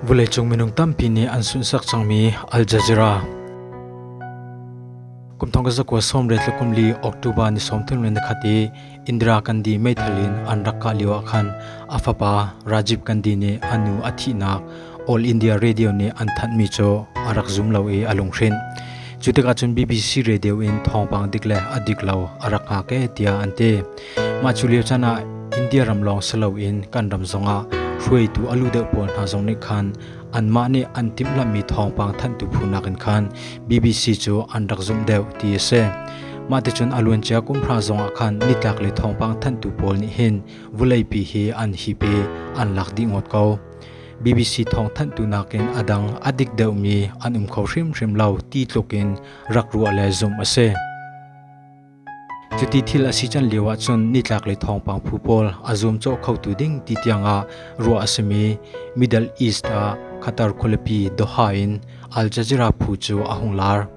Vawleicung minung tampi nih an sunsak cangmi Al Jazeera. Kumthong ka zakwa som re tlakum li October ni som thun ren khat i Indira Gandhi meithal in an rak ka liwa khan afapa Rajiv Gandhi nih anu a thihnak All India Radio nih an thanhmi cu a rak zum lo i a lunghrinh. Cu tikah cun BBC Radio in thawngpang dik le a dik lo a rak ngak e tiah an ti. Mah cu lio chan ah India ram lawng si loin kan ram zongah hruaitu a lu deuh pawl hna zong nih khan anmah nih an timhlamhmi thawngpang thanhtu phu nakin khan BBC cu an rak zumh deuh ti a si. Mah ticun a luancia kum hra zongah khan nitlak le thawngpang thanhtu pawl nih hin vuleipi hi an hi pe an lak dih ngawt ko. BBC thawngthanhtu nakin a dang a dik deuhmi an um kho hrimhrim lo ti tlukin rak ruah le zumh a si. Cuti thil a si can lio ahcun nitlak le thawngpang phu pawl a zum cawh khotu ding ti tiangah ruah a simi Middle East ah Qatar khualipi Doha in Al Jazeera phu cu a hung lar.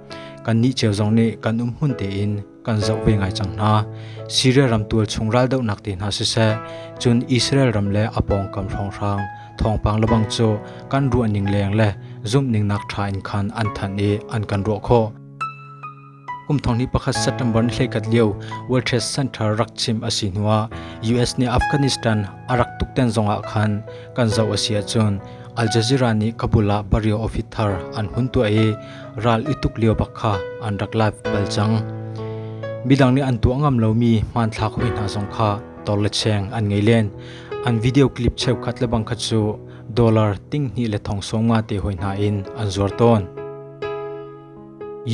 Kan nih ceu zong nih kan um hun tein kan zoh ve ngai cang hna. Syria ram tualchung raldohnak te hna siseh, cun Israel ram le a pawngkam hrawnghrang thawngpang lebang cu kan ruah ning leng le zumh ning nak tha in khan an than i an kan ruah khawh. Kum thong ni pakhat September ni hlekat lio World Trade Center rak chim asi hnuah US nih Afghanistan a rak tukten zongah khan kan zo asi ahcun Al Jazeera nih Kabul ah bario office thar an hun tuah i ral i tuk lio bak kha an rak live bal cang. Midang nih an tuah ngam lomi hmanthlak hoi hna zong kha tor le cheng an ngei len. An video clip cheukhat le bang khat cu dollar ting hnih le thong song ma te hoi hna in an zuar tawn.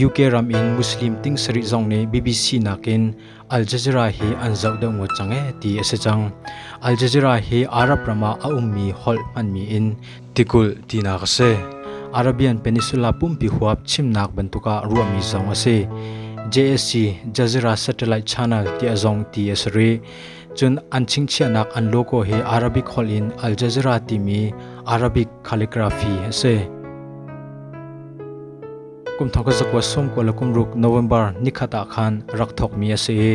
UK ram in Muslim ting sari zong nih BBC nakin Al Jazeera hi an zoh deuh ngut cang ee ti a si cang. Al Jazeera hi Arab ram ah a ummi holh hmanmi in tikulh tinak a si. Arabian Peninsula pumpi huap chimnak bantuk ah ruahmi zong a si. JSC Jazeera Satellite Channel ti a zong ti a si rih. Cun an chingchiahnak an logo hi Arabic holh in Al Jazeera timi Arabic calligraphy a si. Kumthong ka zakua sung kua le kumruk November nikhat ah khan rak thawkmi a si i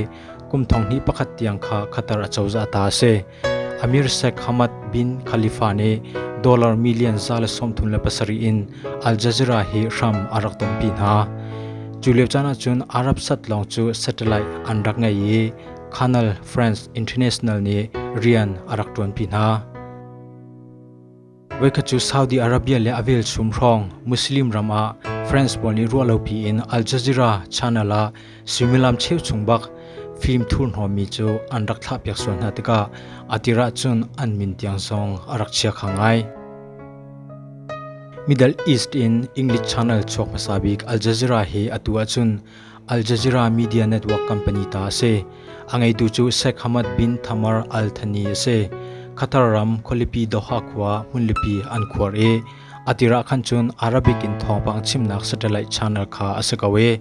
kumthong hnih pakhat tiang kha khatar a cozah ta a si. Amir Sheikh Hamad bin Khalifa nih dollar million za le sawmthum le pasarih in Al Jazeera hi hram a rak tonpi hna. Cu lio caan ahcun Arab sat lawng cu satellite an rak ngei i Canal France International nih rian a rak ṭuanpi hna. Voikhat cu Saudi Arabia le a velchum hrawng Muslim ram ah France pawl nih ruah lopi in Al Jazeera channel ah suimilam cheu chung bak film thurhnawmmi cu an rak thlahpiak sual hna tikah a tir ahcun an min tiang zong a rak chia kha ngai. Middle East in English channel chuak hmasa bik Al Jazeera hi atu ahcun Al Jazeera media network company ta a si. A ngeitu cu Sheikh Hamad bin Thamar Al Thani a si. Qatar ram khualipi Doha khua hmunlipi an khuar i a tirah khan cun Arabic in thawngpang chimnak satellite channel kha a si ko i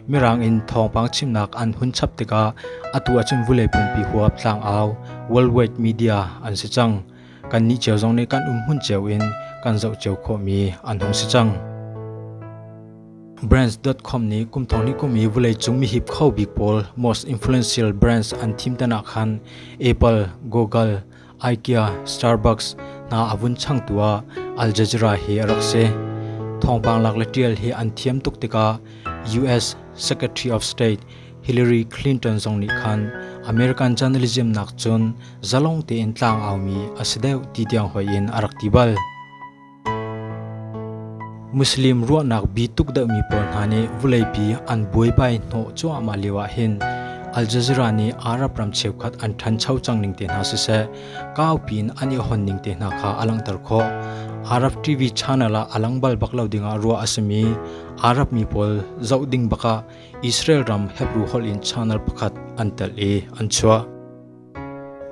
Mirang in thawngpang chimnak an hun chap tikah atu ahcun vulei phunpi huap tlangau worldwide media an si cang. Kannih cio zong nih kan um hmun cio in kan zoh cio khawhmi an hung si cang. Brands.com nih kum thong li kum i vawleicung mihip kho bik pawl most influential brands an thim tanak khan Apple, Google, IKEA, Starbucks hna a vun changtu ah Al Jazeera hi a rak si. Thawngpang lak le ṭial hi an thiam tuk tikah US Secretary of State Hillary Clinton zong nih khan American journalism nak cun zalong tein tlang aumi a si deuh ti tiang hoi in a rak ti bal. Muslim ruahnak bi tuk deuhmi pawl hna nih vuleipi an buaibai hnawh cuahmah lioah hin Al Jazeera nih Arab ram cheukhat an ṭhancho cang ning te hna siseh, kaupi in an i hon ning te hna kha a langhter khawh. Arab TV channel ah a lang bal bak lo dingah ruah a simi Arab mi pawl zoh ding bakah Israel ram Hebrew holh in channel pakhat an telh i an chuah.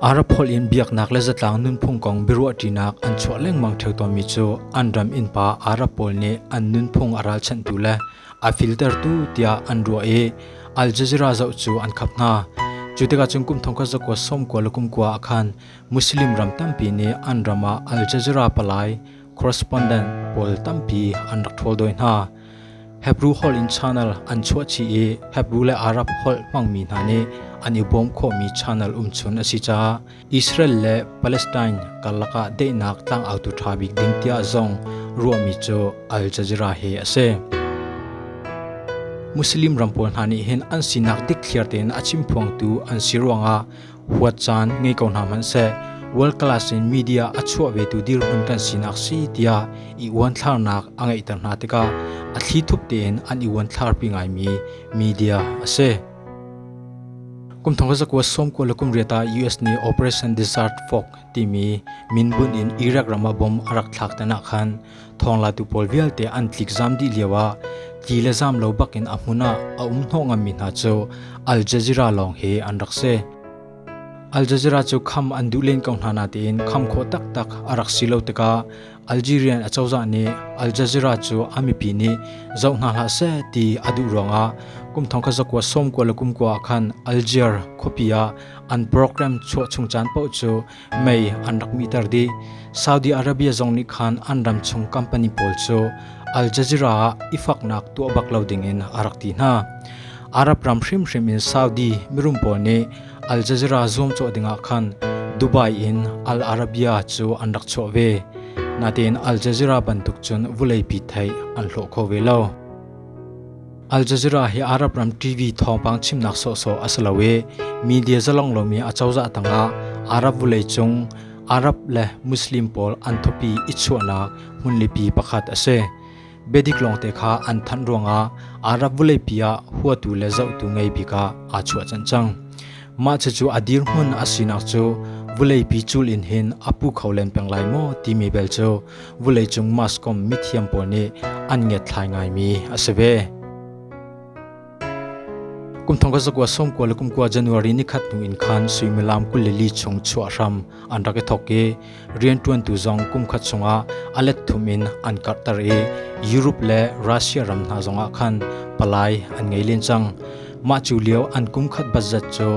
Arab holh in biaknak le zatlang nunphung kong biaruahṭinak an chuah lengmang ṭheo tawnmi cu an ram innpa Arab pawl nih an nunphung a ralchanhtu le a filtertu tiah an ruah i Al Jazeera zoh cu an khap hna. Cu tikah cun kum thongkhat zakua sawmkua le kumkua ah khan Muslim ram tampi nih an ram ah Al Jazeera palai correspondent pawl tampi an rak ṭhawl dawi hna. Hebrew holh in channel an chuahchih i Hebrew le Arab holh hmangmi hna nih an i bawm khawhmi channel umchun a si caah Israel le Palestine karlak ah deihnak tlangautu ṭha bik ding tiah zong ruahmi cu Al Jazeera he a si. Muslim ram pawl hna nih hin an sinak dik thliar tein a chimphuangtu an si ruangah huat caan ngei ko hna hmanh seh world class in media a chuah vetu dirhmun kan sinak si tiah i uanthlarnak a ngeihter hna tikah a thli thup tein an i uanthlar pi ngaimi media a si. Kum thong zakwa som ko lakum riata US ni Operation Desert Fog timi min bun in Iraq rama bom a rak thlak tana khan Thonglatu pawl vialte an tlik zam dih lio ah ti le zam lo bak in a hmun ah a um hnawh ngammi hna cu Al Jazeera lawng hi an rak si. Al Jazeera cu kham an duh len ko hna natein kham khawh taktak a rak si lo tikah Algerian acozah nih Al Jazeera cu a mipi nih zoh hna hlah seh ti a duh ruangah kum thong kha zakua sawm kua le kum kua ah khan Alger khuapi ah an program chuah chung caan paoh cu mei an rak mihter dih. Saudi Arabia zong nih khan an ram chung company pawl cu Al Jazeera ah i faknak tuah bak lo dingin a rak ti hna. Arab ram hrimhrim in Saudi mirum pawl nih Al Jazeera zuamcawh dingah khan Dubai in Al Arabia cu an rak chuah ve. Natein Al Jazeera bantuk cun vuleipi thei an hlawh kho ve lo. Al Jazeera hi Arab ram TV thawngpang chimnak sawhsawh a si lo i media zalong lomi a cozah tangah Arab vawleicung Arab le Muslim pawl an thupi i chuahnak hmunlipi pakhat a si. Bedik lawngte kha an thanh ruangah Arab vawleipi ah huatu le zohtu ngei bik ah aa chuah cang cang. Mah cucu a dirhmun a sinak cu vuleipi cul in hin a pu kho len peng lai maw timi bel cu vuleicung maskom mithiam pawl nih an ngiatthlai ngaimi a si ve. Kumthong ka zakua sawmkua le kumkua January ni khat hnu in khan suimilam kul le li chung chuah hram an rak i thok i rianṭuantu zong kumkhat chungah a let thum in an karhter i Europe le Russia ram hna zongah khan palai an ngei len cang. Mah cu lio an kumkhat budget cu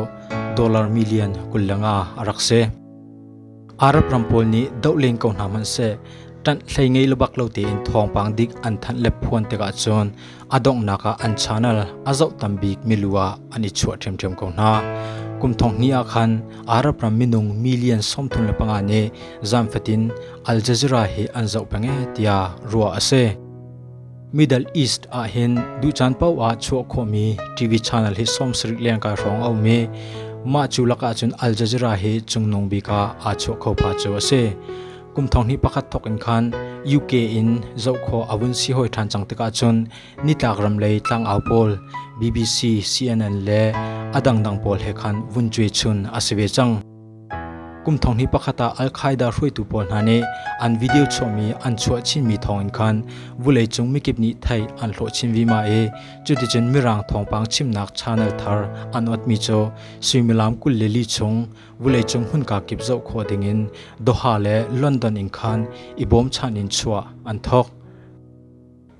dollar million kul le nga a rak si. Arab ram pawl nih doh len ko hna hmanh seh, ṭanh hlei ngei le bak lo tein thawngpang dik an thanh le phuan tikah cun A donghnak ah an channel a zoh tam bik milu ah an i chuah ṭhiamṭhiam ko hna. Kum thong hnih ah khan Arab ram minung million sawmthum le panga nih zaanfatin Al Jazeera hi an zoh peng ee tiah ruah a si. Middle East ah hin ducaan paoh ah chuah khawhmi TV channel hi sawm sarik lengkai hrawng a um i mah cu lakah cun Al Jazeera hi cungnung bik ah aa chuah kho pha cu a si. Kum thong hnih pakhat thawk in khan UK in zoh khawh a vun si hoi ṭhan cang tikah cun nitlak ram lei tlangau pawl BBC, CNN le a dangdang pawl he khan vun cuai chun a si ve cang. Kum thong hnih pakhat ah Al-Qaeda hruaitu pawl hna nih an video chuahmi an chuah chinmi thawng in khan vulei cung mikip nih thei an hlawh chin vima i cuticun mirang thawngpang chimnak channel thar an otmi cu suimilam kul le li chung Vuleicung hmunka kip zoh khawh dingin Doha le London in khan i bawmchanh in chuah an thawk.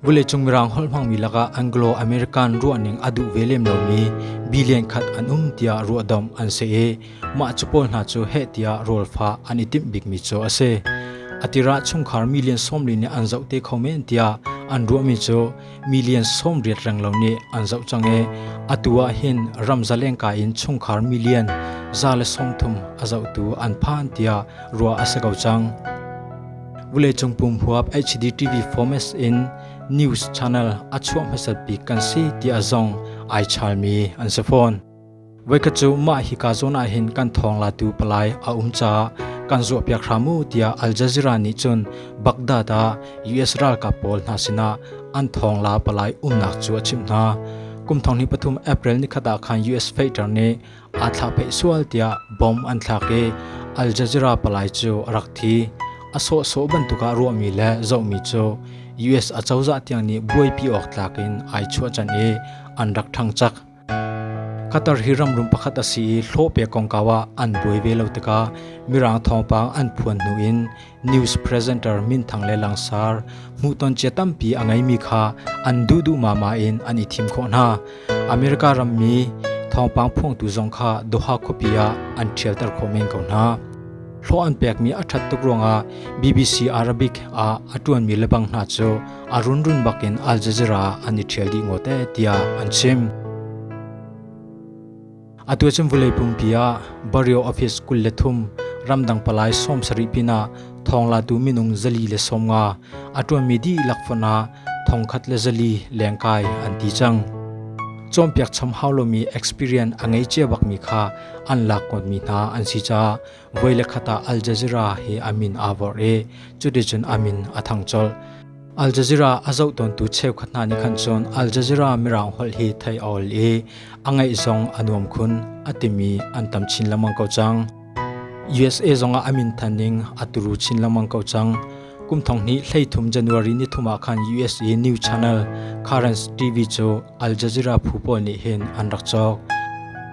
Vuleicung Mirang holh hmangmi lakah Anglo-American ruahning a duh ve lem lomi billion khat an um tiah ruahdomh an si i mah cu pawl hna cu heh tiah rawlfa an i timh bikmi cu a si. A tirah chungkhar million sawmli nih an zoh te kho men tiah an ruahmi cu million som riat reng lo nih an zoh cang i atu ah hin ram zalengka in chungkhar million za le som thum a zohtu an phan tiah ruah a si ko cang. Vuleicung pum huap HDTV formats in news channel a chuah hmasat bik kan si ti a zong ai chalmi an si fawn. Voikhat cu mah hi kaa zawn ah hin kan thawng latu palai a um caah kan zuahpiak hram u tiah Al Jazeera nih cun Baghdad ah US ralkap pawl hna sinah an thawng la palai umnak cu a chimh hna. Kum thong hnih pathum April nikhat ah khan US fighter nih aa thlah pheih sual tiah bomb an thlak i Al Jazeera palai cu a rak thi. A sawhsawh bantuk ah ruahmi le zohmi cu US acozah tiang nih buaipi awk tlak in ai chuahchan i an rak ṭhang cak. Qatar hi ramrum pakhat a si i hlawhpek kongkau ah an buai ve lo tikah Mirang thawngpang an phuan hnu in news presenter minthang le langsar hmuhton cia tampi a ngeimi kha an duh duhmahmah in an i thim khawh hna. America rammi thawngpang phuangtu zong kha Doha khuapi ah an ṭhialter khawh men ko hna. Hlawh an pekmi a ṭhat tuk ruangah BBC Arabic ah a ṭuanmi lebang hna cu a runrun bakin Al Jazeera ah an i ṭhial dih ngawt ee tiah an chim. Atu cun vulei pumpi ah Barrio Office kul le thum ramdang palai sawm sarih pinah thonglatu minung zali le sawmnga a ṭuanmi dihlak fon ah thongkhat le zali lengkai an ti cang. Cawmpiak cham hau lomi experience a ngei cia bakmi kha an lak kawtmi hna an si caah Voi le khat ah Al Jazeera he a min aa vorh i cuticun a min a thang colh. Al Jazeera a zohtawntu cheukhat hna nih khan cun Al Jazeera mirang holh hi thei a ol i a ngaih zong a nuam khun a timi an tam chin lengmang ko cang. USA zongah a min thaning a turu chin lengmang ko cang. Kum thong hnih thum January ni thum ah khan USA News Channel Currents TV cu Al Jazeera phu pawl nih hin an rak cawk.